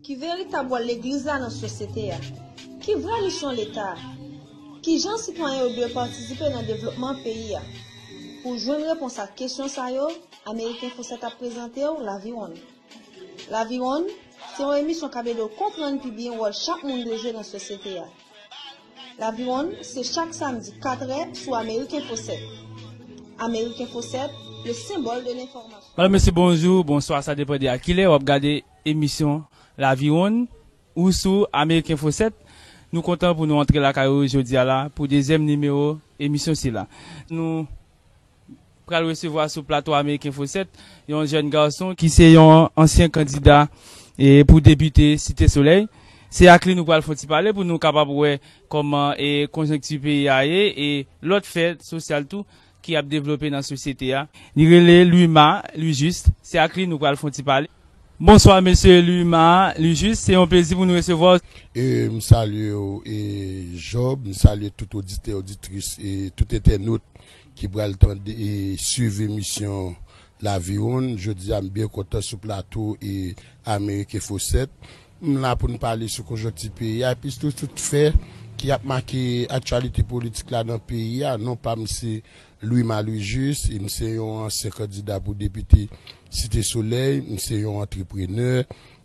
Ki veritab wòl Legliz la nan sosyete a? Ki vrè misyon Leta a? Kijan sitwayen yo dwe patisipe nan devlopman peyi a? Pou jwenn repons ak kesyon sa yo, Ameriken Fosèt ap prezante w Laviwonn. Laviwonn, se yon emisyon k ap ede w konprann pi byen wòl chak moun dwe jwe nan sosyete a. Laviwonn se chak samdi 4 è sou Amerikinfo 7. Amerikinfo 7, le symbole de l'information. Madame, Mesye, bonjou, bonswa, sa depan de a kilè wap gade emisyon Laviwonn ou sou Amerikinfo 7. Nou kontan pou nou antre lakay ou jodi a la pou dezyèm nimewo emisyon sila. Nou pral resevwa sou plato ameriken Fosèt, yon jèn gason ki se yon ansyen kandida pou depite Site Solèy. Se ak li nou pral fè yon ti pale pou nou kapab wè kòman konjonkti peyi a ye e lòt fè sosyal tou ki ap devlope nan sosyete a. Li rele Louima Louis Juste. Se ak li nou pral fè yon ti pale. Bonswa Mesye Louis Ma Louis Juste, se yon plezi pou nou resevwa w. E m salye w e Job, m salye tout oditè oditris e tout entènot ki pral tande e swiv emisyon Laviwonn. Jodi a m byen kontan sou plato e Amerik Enfo 7. M la pou n pale sou konjonkti peyi a epi sou tout fè ki ap make aktyalite politik la nan peyi a. Non pa m se Louis Malouis Juste, M se yon ansyen kandida pou depite Site Solèy, m se yon antreprenè,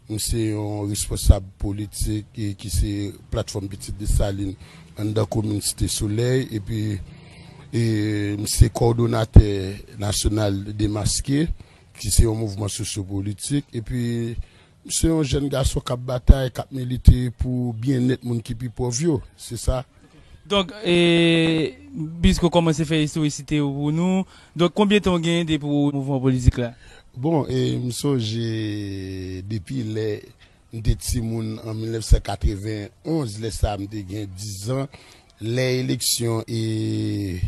m se yon responsab politik ki se Platfòm Pitit Desalin anndan komin Site Solèy epi m se kòdonatè nasyonal Demaske ki se yon mouvman sosyo-politik epi M se yon jèn gason k ap batay, k ap milite pou byennèt moun ki pi pòv yo. Se sa. Donk, Bisco kòmanse fè istoriste yo pou nou. Donk, konbyen tan ou genyen depi ou mouvman politik la? Bon, m sonje depi lè m te timoun an 1991, lè sa a m te gen dizan, lè eleksyon e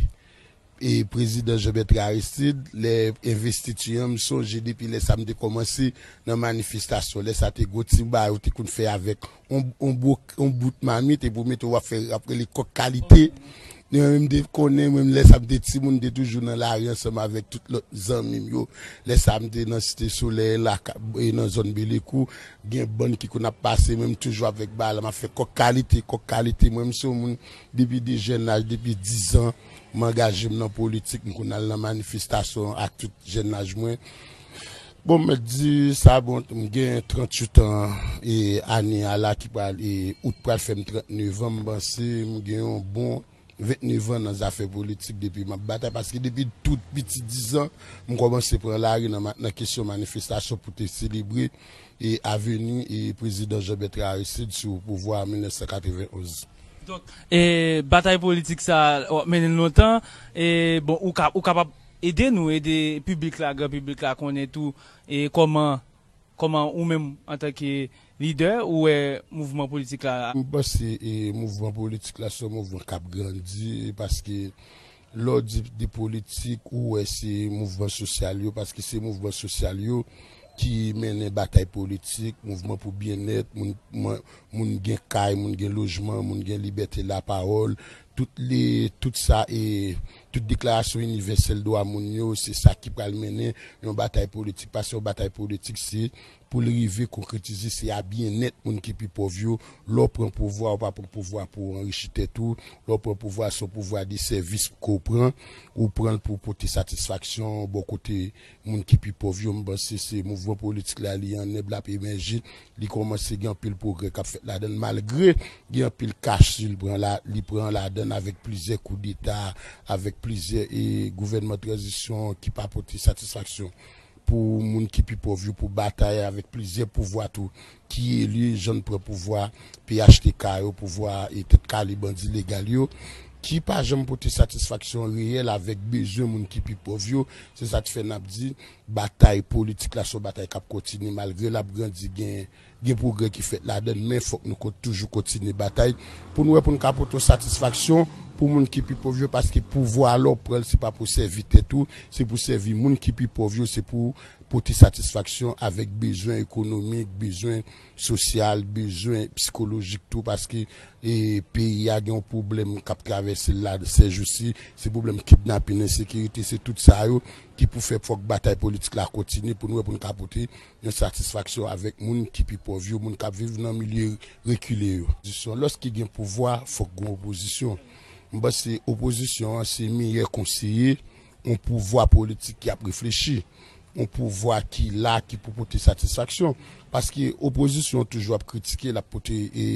E prezidan Jean Bertrand Aristide lè envestiti an m sonje depi lè sa m te kòmanse nan manifestasyon lè sa te gon ti ba yo te konn fè avèk on bro on bout mamit epi w mete w ap fè y ap rele kòk kalite ni mwen menm m te konnen mwen menm lè sa m te timoun m te toujou nan lari ansanm avèk tout lòt zanmi m yo lè sa m te nan site solèy la e nan zòn belekou gen bann ki konn ap pase mwen m toujou avèk ba la m ap fè kòk kalite kòk kalite mwen m se yon moun depi de jèn laj depi dizan. M angaje m nan politik, m konn al nan manifestasyon ak tout jèn laj mwen. Bon m mèt di sa bon m gen 38 an e ane a la ki pral e out pral fè m 39 an m panse m gen yon bon 29 an nan zafè politik depi m ap batay paske depi tout piti 10 an m kòmanse pran lari nan kesyon manifestasyon pou te selebre e aveni e prezidan Jean Bertrand Aristide sou pouvwa an 1991. Donk e batay politik sa wap mennen lontan e bon ou ka ou kapab ede nou ede piblik la gran piblik la konnen tou e kòman kòman ou menm antanke lidè ou wè mouvman politik la. M panse e mouvman politik la se yon mouvman kap grandi e paske Lè w di de politik, ou wè se mouvman sosyal yo, paske se mouvman sosyal yo ki mennen batay politik, mouvman pou byennèt, moun gen kay, moun gen lojman, moun gen libète lapawòl, tout sa e tout deklarasyon inivèsèl dwa moun yo, se sa ki pral mennen yon batay politik, paske yon batay politik se pou l rive konkretize se a byennèt moun ki pi pòv yo, lè w pran pouvwa ou pa pran pouvwa pou w anrichi tèt ou, lè w pran pouvwa se yon pouvwa de sèvis ke w pran, ou pran l pou w pote satisfaksyon bò kote moun ki pi pòv yo, m panse se mouvman politik la li an nèb l ap emèje, li kòmanse gen anpil pwogrè k ap fèt ladan l malgre gen anpil kach si l pran la, li pran ladan l avèk plizyè koudeta, avèk plizyè e gouvènman tranzisyon ki pa pote satisfaksyon. pou moun ki pi pòv yo pou batay avèk plizyè pouvwa tou ki eli jèn pran pouvwa phtk yo pouvwa e tèt kale bandi legal yo ki pa janm pote satisfaksyon reyèl avèk bezwen moun ki pi pòv yo se sa k fè n ap di batay politik la se yon batay k ap kontinye malgre l ap grandi gen. Gen pwogrè ki fèt ladan l, men fòk nou toujou kontinye batay pou n wè pou n ka pote yon satisfaksyon pou moun ki pi pòv yo paske pouvwa lè w pran l se pa pou sèvi tèt ou, se pou sèvi moun ki pi pòv yo, se pou w pote satisfaksyon avèk bezwen ekonomik, bezwen sosyal, bezwen psikolojik tou paske peyi a gen yon pwoblèm k ap travèse l la sèjousi, se pwoblèm kidnapin, ensekirite, se tout sa yo ki pou fè fòk batay politik la kontinye pou n wè pou n ka pote yon satisfaksyon avèk moun ki pi pòv yo, moun k ap viv nan milye rekile yo. Opozisyon, Lòske gen pouvwa, fòk gen opozisyon. M panse opozisyon an se miyè konseye yon pouvwa politik ki ap reflechi, yon pouvwa ki la, ki pou pote satisfaksyon. Paske opozisyon toujou ap kritike, l ap pote e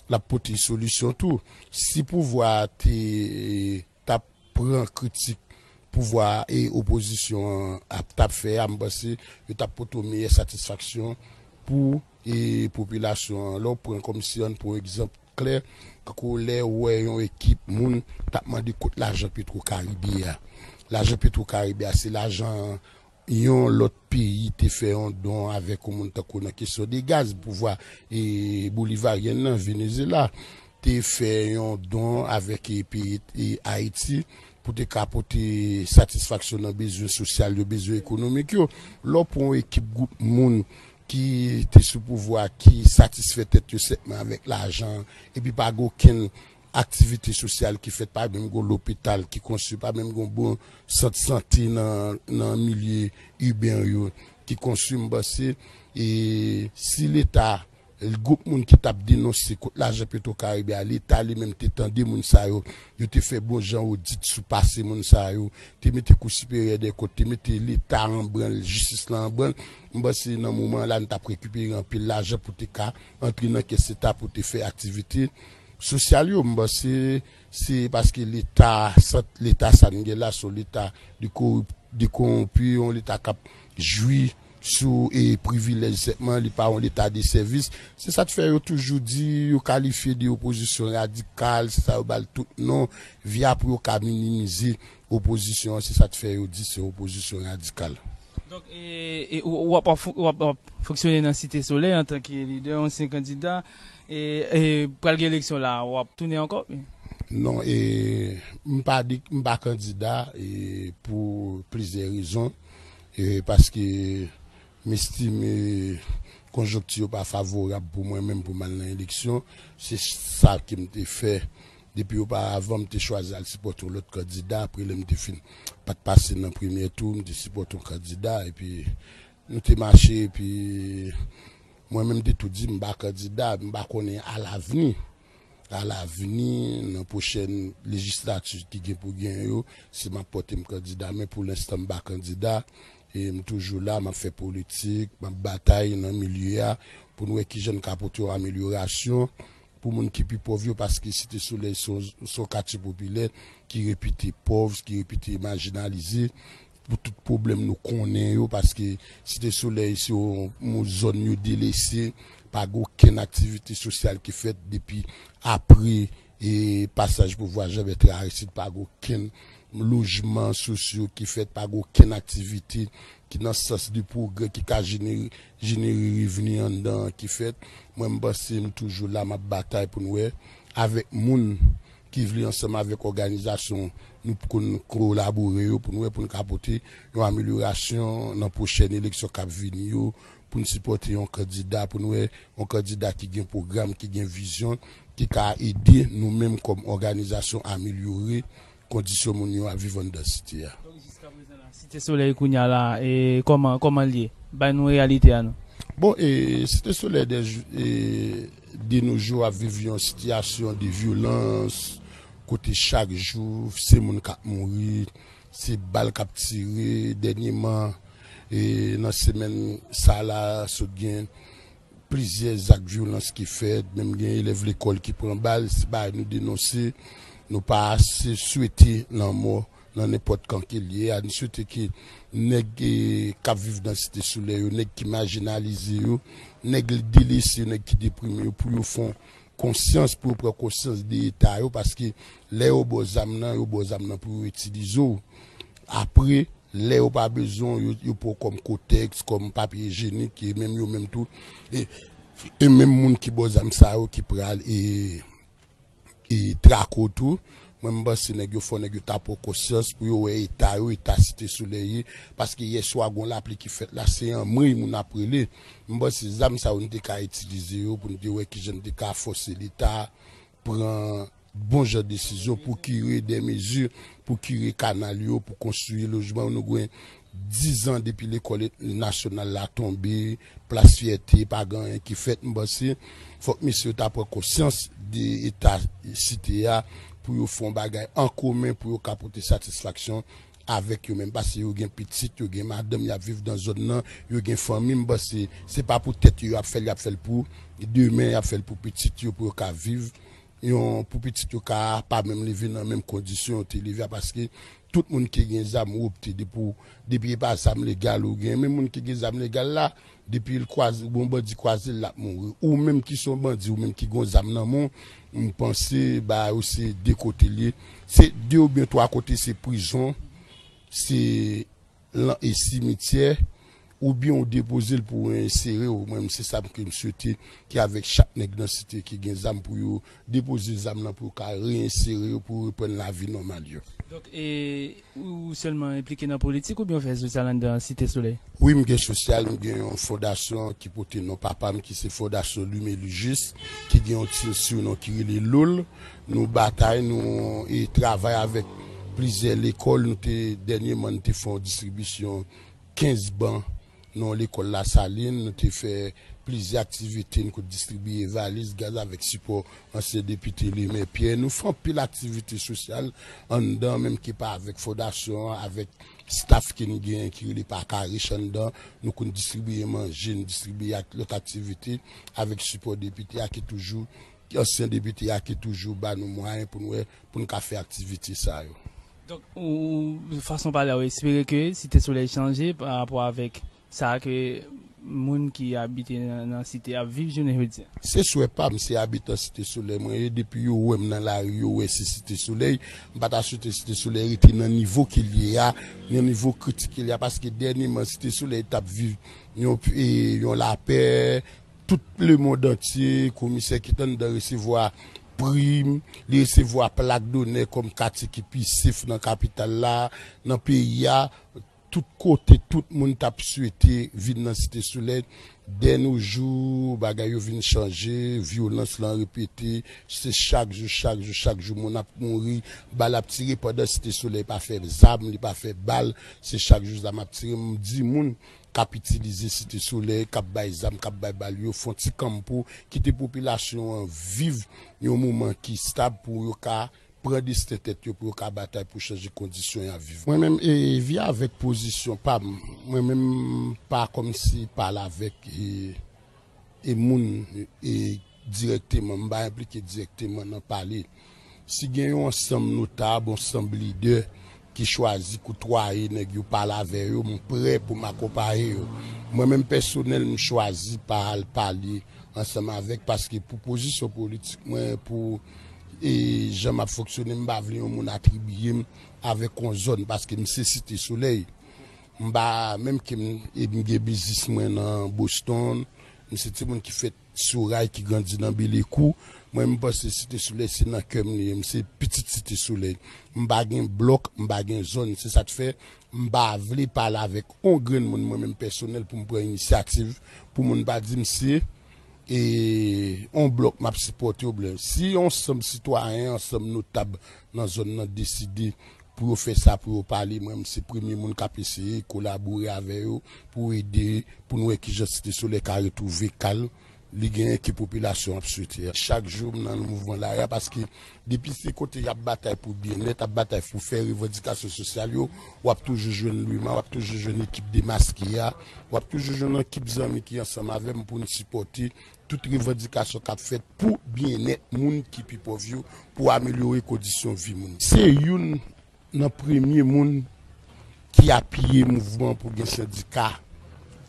l ap pote solisyon tou. Si pouvwa a te. tap pran kritik pouvwa a e opozisyon an ap tap fè a, m panse yo tap pote yon meyè satisfaksyon pou e popilasyon an. Lè w pran kòm si an n pran yon egzanp klè, tankou lè ou wè yon ekip moun tap mande kot lajan Petro Caribe a. Lajan Petro Caribe a se lajan Yon lòt peyi te fè yon don avèk yon moun tankou nan kesyon de gaz, pouvwa bolivaryen nan, Venezela, te fè yon don avèk peyi Ayiti pou te ka pote satisfaksyon nan bezwen sosyal yo, bezwen ekonomik yo. Lè w pran yon ekip gwoup moun ki te sou pouvwa ki satisfè tèt yo senpman avèk lajan epi pa gen okenn aktivite sosyal ki fèt pa menm gon lopital ki konstwi pa menm gon bon sant sante nan milye iben yo ki konstwi m panse si leta gwoup moun ki tap denonse kot lajan petro karibe a leta li menm te tande moun sa yo yo te fè bon jan odit sou pase moun sa yo te mete kou siperyè dè kont te mete leta an branl jistis lan an branl m panse nan moman la nou tap rekipere anpil lajan pou te ka antre nan kès leta pou te fè aktivite. Sosyal yo, m panse se paske leta sant leta sa n gen la son leta de konwonpi, yon leta k ap jwi sou privilèj sèlman, li pa yon leta de sèvis. Se sa k fè yo toujou di yo kalifye de opozisyon radikal, se sa yo ba l tout non, via pou yo ka minimize opozisyon an, se sa k fè yo di se opozisyon radikal. Donk ou ap fonksyone nan Site Solèy antanke lidè ansyen kandida e pral gen eleksyon la a ou ap tounen ankò? Non, m pa kandida pou plizyè rezon paske m estime konjonkti yo pa favorab pou mwen menm pou m al nan eleksyon. Se sa ke m te fè Depi oparavan m te chwazi al sipòte yon lòt kandida, apre lè m te fin pa t pase nan premyè tou, m te sipòte yon kandida epi nou te mache epi mwen menm m te tou di m pa kandida epi m pa konnen alavni, alavni nan pwochèn lejislati ki gen pou gen yo si m ap pòte m kandida men pou lenstan m pa kandida e m toujou la m ap fè politik, m ap batay nan milye a pou n wè kijan n ka pote yon amelyorasyon. Pou moun ki pi pòv yo, paske Site Solèy se yon katye popilè ki repite pòv, ki repite majinalize pou tout pwoblèm nou konnen yo, paske Site Solèy se yon zòn yo delese, pa gen okenn aktivite sosyal ki fèt depi apre pasaj pouvwa Jan Bètran Aristid, pa gen okenn lojman sosyo ki fèt, pa gen okenn aktivite ki nan sans de pwogrè ki ka jenere Jeneri revni anndan an ki fèt mwen m panse m toujou la map batay pou n wè avèk moun ki vle ansanm avèk òganizasyon nou p konn kolabore yo pou n wè pou n ka pote yon amelyorasyon nan pwochèn eleksyon kap vini yo pou n sipòte yon kandida pou n wè yon kandida ki gen pwogram ki gen vizyon ki ka ede nou menm kòm òganizasyon amelyore Kondisyon moun yo ap viv anndan site a. Donk jiska prezan la Site Solèy kounya la e kòman kòman'l ye? Bay nou reyalite a nou. Bon e Site Solèy dè e de no jou ap viv yon sitiyasyon de vyolans kote chak jou se moun k'ap mouri, se bal k'ap tire dènyeman e nan semèn sa la sot gen Plizyè zak vyolans ki fèt, menm gen elèv lekòl ki pran bal, se bagay nou denonse. Nou pa ase swete lanmò nan nenpòt kan ke li ye a. Nou swete ke nèg k ap viv nan Site Solèy yo, nèg ki majinalize yo, nèg l delese yo, nèg ki deprime yo pou yo fon konsyans pou yo pran konsyans de eta yo paske lè yo baw zam nan yo baw zam nan pou yo itilize w apre lè yo pa bezwen w yo pran w kòm kotèks kòm papye ijenik e menm yo menm tou e menm moun ki baw zam sa yo ki pral e trake w tou Mwen m panse nèg yo fò nèg yo ta pwan konsyans pou yo wè eta yo eta site solèy ye paske yè swa gon lapli ki fèt la se anmwey moun ap rele m panse zam sa yo n te ka itilize yo pou n te wè kijan n te ka fòse leta pran bon jan desizyon pou kire dè mezi pou kire kanal yo pou konstwi lojman yo nou gwen dizan depi lekòl nasyonal la tonbe Plas fyète pa gen anyen ki fèt m panse fòk mesye yo ta pran konsyans de eta site a pou yo fè yon bagay an komen pou yo ka pote satisfaksyon avèk yo menm pase yo gen pitit yo gen madanm yap viv nan zòn nan yo gen fanmi m panse se pa pou tèt yo yap fèl yap fèl pou demen yap fèl pou pitit yo pou yo ka viv yon pou pitit yo ka pa menm leve nan menm kondisyon yo te leve a paske tout moun ki gen zam ou opte depi w depi e pa zam legal ou gen men moun ki gen zam legal la depi l kwaz yon bandi kwaze l l ap mouri ou menm ki se yon bandi ou menm ki gen yon zam nan men w m panse bagay yo se de kote l ye se de oubyen twa kote se prizon se. lan e simityè ou byen ou depoze l pou reinsere w mwen se sa m ke m swete ke avek chak nèg lan site ki gen zam pou yo depoze zam lan pou yo ka reinsere yo pou yo reprann lavi nòmal yo. Donk e ou sèlman enplike nan politik ou byen ou fè sosyal anndan site solèy? Wi m gen sosyal m gen yon fondasyon ki pote non papa m ki se fondasyon Lumelu Juste ki gen yon team surnom ki rele Loul. Nou batay, nou e travay avèk plizyè lekòl. Nou te dènyeman nou te fè yon distribisyon 15 ban nan yon lekòl Lasalin. Nou te fè plizyè aktivite, nou kot distribiye valiz, gaz avèk sipò ansyen depite Lemer Pierre. Nou fè anpil aktivite sosyal anndan, menm ke pa avèk fondasyon an, avèk staf ke nou genyen ki rele Paka Rich anndan. Nou konn distribiye manje, nou distribiye ak lòt aktivite avèk sipò depite a ki toujou Ki ansyen depite a ki toujou ba nou mwayen pou n wè pou n ka fè aktivite sa yo? Donk, ou, fason pale a, ou espere ke Site Solèy chanje pa rapò avèk sa ke moun ki abite nan Site ap viv jounen jodi a? Se swè pa m, se abitan Site Solèy mwen ye, depi yo wè m nan lari yo wè se Site Solèy, m pa ta swete Site Solèy rete nan nivo ke l ye a, nan nivo kritik ke l ye a, paske dènyeman Site Solèy t ap viv yon lapè, Tout lemond antye, komisè ki t anndan resevwa prim, li resevwa plak donè kòm katye ki pi sef nan kapital la, nan peyi a, tout kote tout moun t ap swete vin nan Site Solèy. Denojou, bagay yo vin chanje, vyolans lan repete, se chak jou, chak jou, chak jou moun ap mouri, bal ap tire pandan Site Solèy pa fè zam, li pa fè bal, se chak jou zam ap tire. M di moun, k ap itilize Site Solèy, k ap bay zam, k ap bay bal yo fon ti kanmpo, kite popilasyon an viv yon moman ki stab pou yo ka pran desten tèt yo, pou yo ka batay pou chanje kondisyon y ap viv. Mwen menm e vi avèk pozisyon pa m, mwen menm m pa kòmsi pale avèk e. e moun e dirèkteman, m pa enplike dirèkteman nan pale. Si gen yon ansanm notab, ansanm lidè ki chwazi koutwaye nèg yo, pale avè yo, m prè pou m akonpaye yo. Mwen menm pèsonèl, m chwazi pa al pale ansanm avèk paske pou pozisyon politik mwen, pou e jan m ap fonksyone, m pa vle yon moun atribiye m avèk yon zòn paske m se Site Solèy. M pa menm ke m e m gen biznis mwen nan Boston. M se timoun ki fèt sou ray ki grandi nan Belekou. Mwen m panse Site Solèy se nan kè m li ye. M se pitit Site Solèy. M pa gen blòk, m pa gen zòn. Se sa k fè m pa vle pale avèk on grenn moun mwen menm pèsonèl pou m pran inisyativ pou moun pa di m se e on blòk m ap sipòte oublen si ansanm sitwayen ansanm notab nan zòn nan deside pou yo fè sa pou yo pale mwen m se premye moun kap eseye kolabore avè yo pou ede pou n wè kijan site solèy ka retwouve kalm li genyen ke popilasyon ap swete a. Chak jou m nan mouvman lari a paske depi se kote yap batay pou byennèt ap batay pou fè revandikasyon sosyal yo wap toujou jwenn Luma wap toujou jwenn ekip demaske a wap toujou jwenn ekip zanmi ki ansanm avè m pou n sipòte Tout revandikasyon kap fèt pou byennèt moun ki pi pòv yo, pou amelyore kondisyon vi moun. Se youn nan premye moun ki apiye mouvman pou gen sendika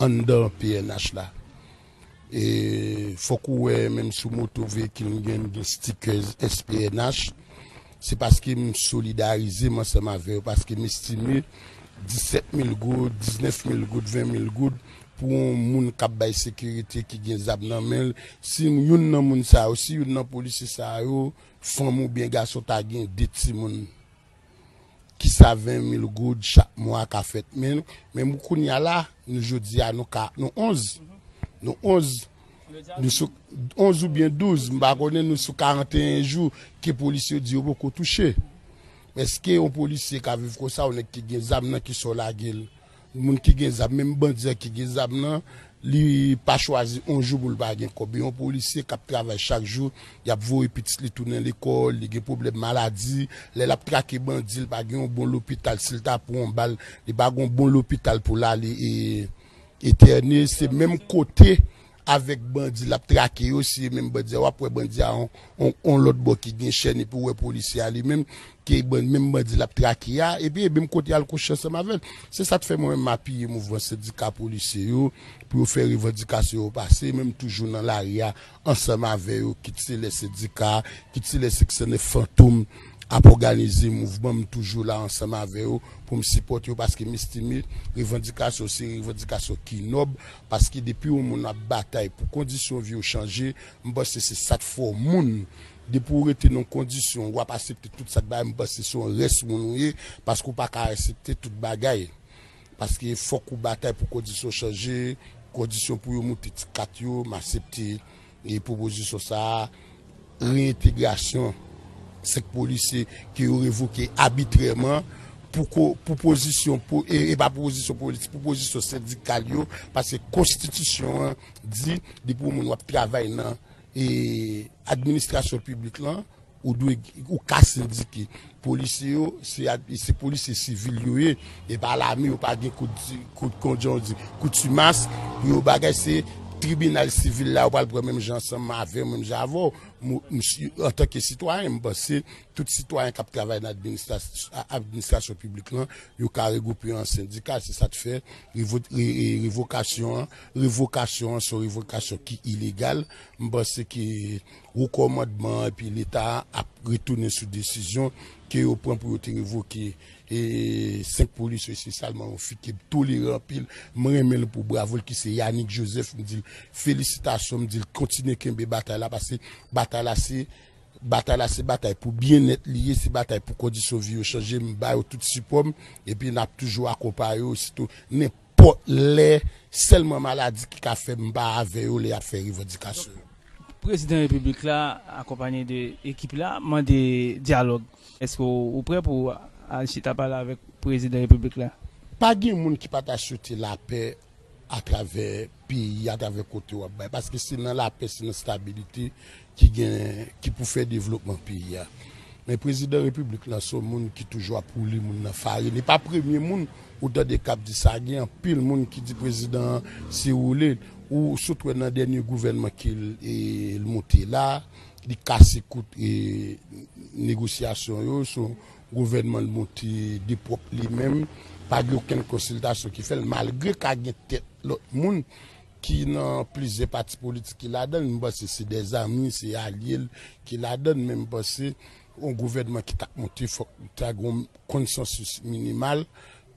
anndan pnh la. E fòk ou wè menm sou moto veyikil m gen, m gen stickers SPNH. Se paske m solidarize m ansanm avè yo, paske m estime 17 mil goud, 19 mil goud, 20 mil goud Pou yon moun kap bay sekirite ki gen zam nan menl si youn nan moun sa yo si youn nan polisye sa yo fanm ou byen gason ta gen 2 timoun kisa 20 mil goud chak mwa ka fèt menl men mou kounya la nou jodia nou ka nou 11 nou 11 nou sou 11 ou byen 12 m pa konnen nou sou 41 jou ke polisye yo di yo poko touche eske yon polisye ka viv konsa yon nèg ki gen zam nan kisa w lagel Moun ki gen zam menm bandi an ki gen zam nan li pa chwazi yon jou pou l pa gen kòb yon polisye kap travay chak jou yap voye pitit li tounen lekòl li gen pwoblèm maladi lè lap trake bandi li pa gen yon bon lopital si l ta pran yon bal li pa gen yon bon lopital pou l ale etène se menm kote avèk bandi lap trake yo si e menm bandi a wap wè bandi a on lòt bò ki gen chèn epi ou wè polisye a li menm ke menm bandi lap trake a epi e menm kote al kouche ansanm avèl se sak fè mwen menm m apiye mouvman sendika polisye yo pou yo fè revandikasyon yo pase e menm toujou nan lari a ansanm avè yo kit se lè sendika kit se lè seksyon 9 fantom ap òganize mouvman m toujou la ansanm avè yo poum sipòte yo paske m estime revandikasyon se revandikasyon ki nòb Paske depi yon moun ap batay pou kondisyon vi w chanje, m panse se sa k fè w moun. Depi w rete nan yon kondisyon, w ap asepte tout sa k bay, m panse se yon rès moun ou ye, paske w pa ka asepte tout bagay. Paske fòk ou batay pou kondisyon chanje, kondisyon pou yo moute ti kat yo, m asepte. E pwopozisyon sa a, reyentegrasyon 5 polisye ke yo revoke abitrèman pou pozisyon, e pa pou pozisyon politik, pou pozisyon sendikal yo, paske konstitisyon an di depi yon moun wap travay nan administrasyon piblik lan, Ou dwe ou ka sendike. Polisye yo se polisye sivil yo ye, e pa lame yo pa gen kout konjan di koutimas pou yo bagay se tribinal sivil la yo pral pran menm jan ansanm avèw menm jan avèw msye antanke sitwayen m panse tout sitwayen kap travay nan administrasyon piblik lan yo ka regwoupe yo an sendika se sa t fè revokasyon an revokasyon an son revokasyon ki ilegal m panse ke Wo kòmandman an epi Leta a ap retounen sou desizyon ke yo pran pou yo te revoke 5 polisye yo espesyalman yon fi ki toleran anpil, m renmen l pou bravo l ki se Yanick Joseph, m di l felisitasyon, m di l kontinye kenbe batay la pase batay la se batay la se batay pou byennèt li ye, se batay pou kondisyon vi yo chanje, m ba yo tout sipò m epi n ap toujou akonpaye yo sitou nenpòt. Pot lè Selman maladi ki ka fè m pa avè yo lè y ap fè revandikasyon yo. Prezidan Repiblik la akonpanye de ekip la mande dyalòg. Eske ou prè pou w al chita pale avèk Prezidan Repiblik la? Pa gen moun ki pa ta swete lapè atravè peyi a atravè kote wap bay paske se nan lapè se nan stabilite ki gen ki pou fè devlopman peyi a men prezidan repiblik la son moun ki toujou ap woule moun nan farin li pa premye moun ou tande kap di sa gen anpil moun ki di prezidan an se woule ou sot wè nan dènye gouvènman ke l moute la li kase kout negosyasyon yo son Gouvènman l monte de pwòp li menm, pa gen okenn konsiltasyon ki fè l malgre ka gen tèt lòt moun ki nan plizyè pati politik ki ladan l, m panse se dè zanmi, se alye l ki ladan l men m panse yon gouvènman ki t ap monte fòk ta gen yon konsansis minimal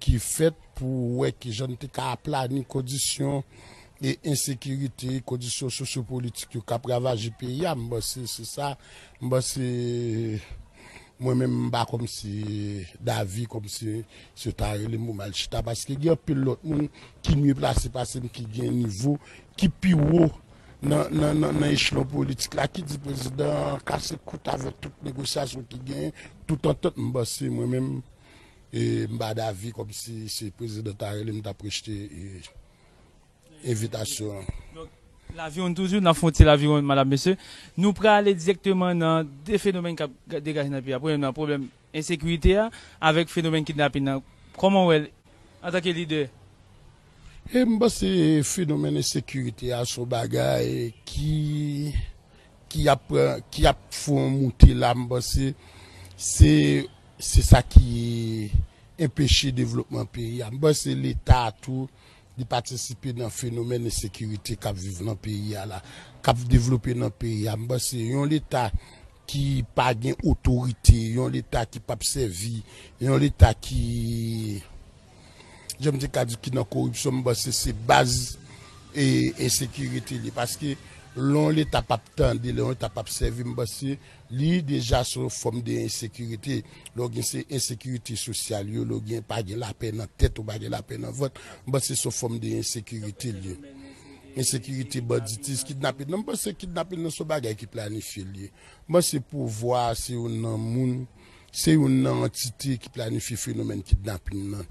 ki fèt pou wè ki jan n te ka aplani kondisyon e ensekirite, kondisyon sosyopolitik yo k ap ravaje peyi a. M panse se sa, m panse mwen menm m pa kòm se davi kòm se si yo ta rele m pou m al chita paske gen anpil lòt moun ki mye plase pase m ki gen nivo ki pi wo nan echelon politik la ki di prezidan an kase kout avèk tout negosyasyon ki genyen, tout antant m panse mwen menm. M pa davi komsi se prezidan ta rele m tap rejte envitasyon an. Laviwonn toujou nap fè yon ti laviwonn madam mesye nou prale direkteman nan 2 fenomèn kap degaje nan peyi a premyèman nan pwoblèm ensekirite a avèk fenomèn kidnapin nan kòman ou wèl antanke lidè. M panse fenomèn ensekirite a son bagay ki ki ap ki ap fè yon moute la m panse se se sa ki enpeche devlopman peyi a m panse leta tou li patisipe nan fenomèn ensekirite k ap viv nan peyi a la k ap devlope nan peyi a m panse yon leta ki pa gen otorite yon leta ki p ap sèvi yon leta ki. jan m te ka di ki nan koripsyon m panse se baz e ensekirite li paske lè yon leta p ap tande lè yon leta p ap sèvi m panse li deja se yon fòm de ensekirite lè w gen se ensekirite sosyal yo lè w gen pa gen lapè nan tèt ou pa gen lapè nan vant m panse se yon fòm de ensekirite li ye ensekirite banditis kidnapin nan m panse kidnapin nan se yon bagay ki planifye li ye m panse pouvwa a se yon nan moun. se youn nan antite ki planifye fenomèn kidnapin nan.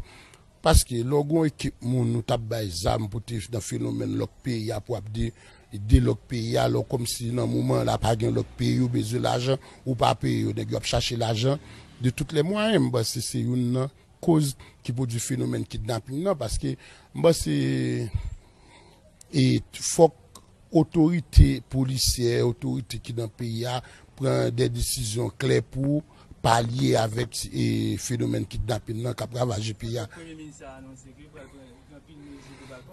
Paske lè w gen yon ekip moun ou t ap bay zam pou te nan fenomèn lòk peyi a pou ap de lòk peyi a, lò kòm si nan moman la pa gen lòk peyi yo bezwen lajan, ou pa peye yo, nèg yo ap chache lajan de tout lè mwayen. M panse se youn nan koz ki pwodui fenomèn kidnapin nan paske m panse fòk Otorite polisyè, otorite ki nan peyi a pran de desizyon klè pou palye avèk fenomèn kidnapin nan k ap ravaje peyi a.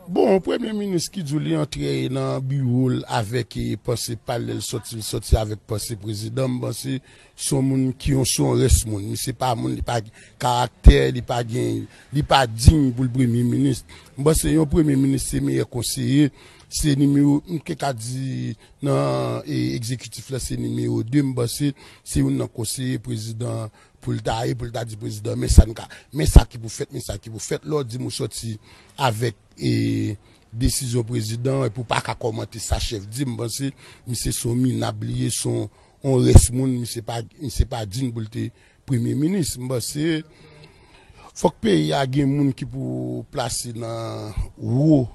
Bon, premye minis ki di w li antre nan biwo l avèk panse pa l, lè l soti l soti avèk panse prezidan, m panse se yon moun ki yon se yon rès moun. Misye pa moun, li pa gen karaktè, li pa gen, li pa dign pou l premye minis. M panse yon premye minis se meyè konseye Se nimewo m te ka di nan egzekitif la se nimewo 2, m panse se youn nan konseye prezidan pou l ta ye pou l ta di prezidan men sa n ka men sa ki pou fèt men sa ki pou fèt lè w di m ou sòti avèk desizyon prezidan epi w pa ka kòmante sa chèf di m panse misye se yon minab li ye se yon rès moun misye pa digne pou l te Premye minis, m panse fòk peyi a gen moun ki pou plase nan wo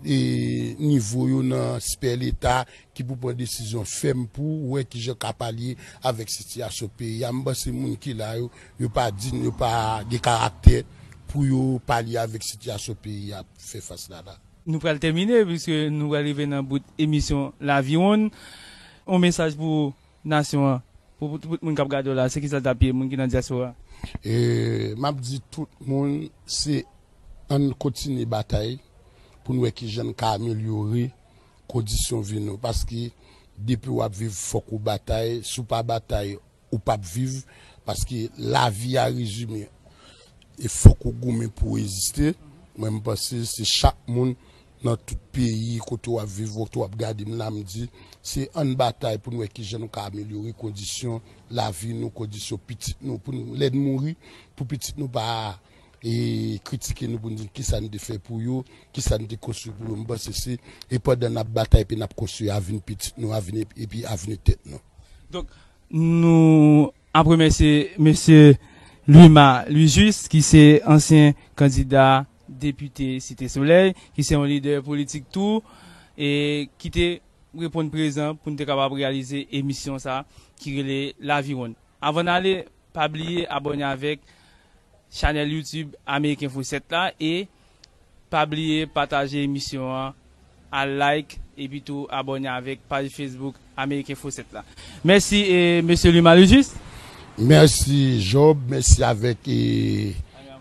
nivo yo nan spè leta ki pou pran desizyon fèm pou wè ki jan ka palye avèk sitiyasyon peyi a. M panse moun ki la yo, yo pa dign, yo pa gen karaktè pou yo palye avèk sitiyasyon peyi a ap fè fas la la. Nou pral tèmine piske nou pral rive nan bout emisyon Laviwonn. Yon mesaj pou Nasyon an. Pou tout moun kap gade w la, se kisa l tap ye moun ki nan diaspora? E map di tout moun se ann kontinye batay pou n wè kijan n ka amelyore kondisyon vi nou paske depi wap viv fòk ou batay si w pa batay ou pap viv paske lavi a rezime e fòk ou goumen pou w eziste mwen m panse se chak moun Nan tout peyi kote w ap viv mwen tou ap gade m la m di se ann batay pou n wè kijan nou ka amelyore kondisyon lavi nou kondisyon pitit nou pou n lè n mouri pou pitit nou pa kritike nou pou n di n kisa n te fè pou yo kisa n te konstwi pou yo m panse se e pandan n ap batay epi n ap konstwi avni pitit nou avni epi avni tèt nou. Donk nou ap remèsye mesye Lwima Lwijis ki se ansyen kandida Depite Site Solèy, ki se yon lidè politik tou, ki te reponn prezan pou n te kapab reyalize emisyon sa ki rele Laviwonn. Avan n ale, pa bliye abòne avèk chanèl YouTube Amerikenfo 7 la e pa bliye pataje emisyon an. Al like epi tou abòne avèk paj Facebook Ameriken Fo 7 la. Mèsi Mesye Luma le Juste. Mèsi Job, mèsi avèk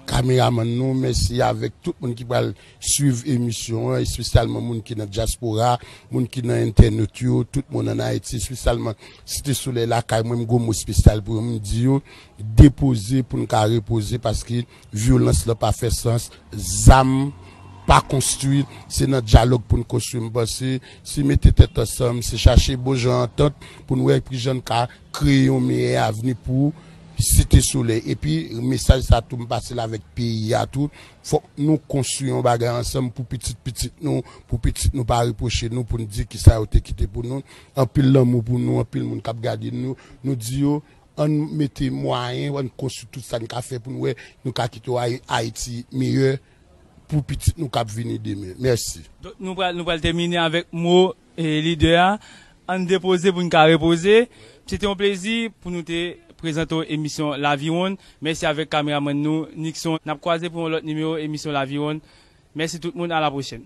kameramann nou, mèsi avèk tout moun ki pral swiv emisyon an, espesyalman moun ki nan dyaspora, moun ki nan entènot yo, tout moun an Ayiti, espesyalman Site Solèy lakay mwen, m gwo mo espesyal pou yo, m di yo depoze pou n ka repoze paske. Vyolans lan pa fè sans, zam pa konstwi, se nan dyalòg pou n konstwi. M panse si mete tèt ansanm, si chache bon jan antant pou n wè kijan n ka kreye yon meyè avni pou Site Solèy. Epi mesaj sa tou m pase l avèk peyi a tou, fòk nou konstwi yon bagay ansanm pou pitit pitit nou, pou pitit nou pa repwoche nou pou n di kisa yo te kite pou nou. Anpil lanmou pou nou, anpil moun k ap gade nou, nou di yo. Ann mete mwayen, ann konstwi tout sa n ka fè pou n wè nou ka kite yon Ayiti miyò pou pitit nou k ap vini demen. Mèsi. Donk nou pral nou pral tèmine avèk mo lidè a, ann depoze pou n ka repoze. Se te yon plezi pou nou te prezante w emisyon Laviwonn. Mèsi avèk kameramann nou Nickson. N ap kwaze pou yon lòt nimewo emisyon Laviwonn. Mèsi tout moun, a la pwochèn.